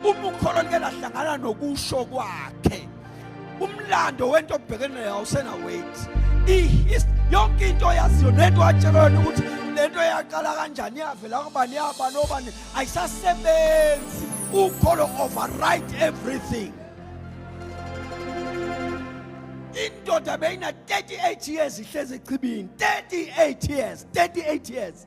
uma ukholo like lahlangana nokusho kwakhe umlando wento obhekene nayo awusena wait yonke into yaziyo nento watshelwa yona ukuthi lento yaqala kanjani yavela kubani yabani obani ayisasebenzi ukholo override everything indoda beyina 38 years ihlezi echibini 38 years 38 years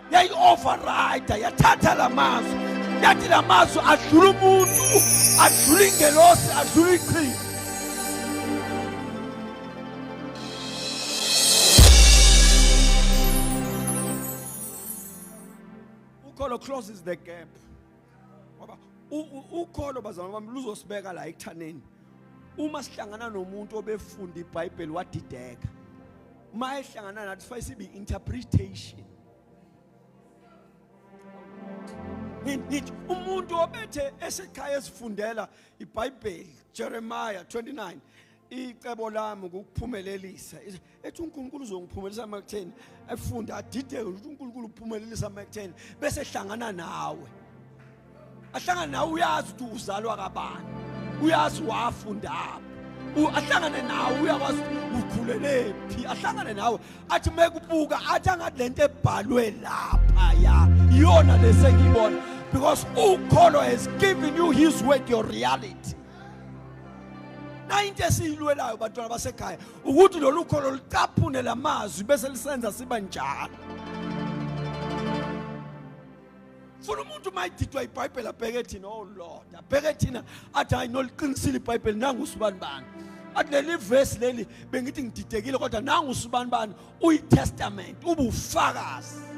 yayi-overrida yathatha la mazwi yathi la mazwi adlula umuntu adlula ingelosi adlula iqhinga ukholo closes the gap ngoba ukholo bazalwane bami luzosibeka la ekuthaneni uma sihlangana nomuntu obefunda ibhayibheli wadideka uma ehlangana nathi sifaye sibe interpretation ngithi umuntu obethe esekhaya esifundela iBhayibheli Jeremiah 29 icebo lami ukuphumelelisa ethi uNkulunkulu uzongiphumelelisa makutheni efunda adideke ukuthi uNkulunkulu uphumelelisa makutheni bese hlangana nawe ahlangane nawe uyazi ukuthi uzalwa kabani uyazi wafundaphi ahlangane nawe uyakwazi ukhulelephi ahlangane nawe athi mekubuka athi angathi lento ebhalwe lapha ya iyona lesengiyibona because ukholo has given you his word your reality nayinto esiyilwelayo bantwana basekhaya ukuthi lolu kholo licaphune lamazwi bese lisenza siba njalo funa umuntu uma edidwa ibhayibheli abheke thina oh lord abheke thina athi hayi noliqinisile ibhayibheli nangu usibani bani athi leli vesi leli bengithi ngididekile kodwa nangu usibani bani uyitestament ubufakazi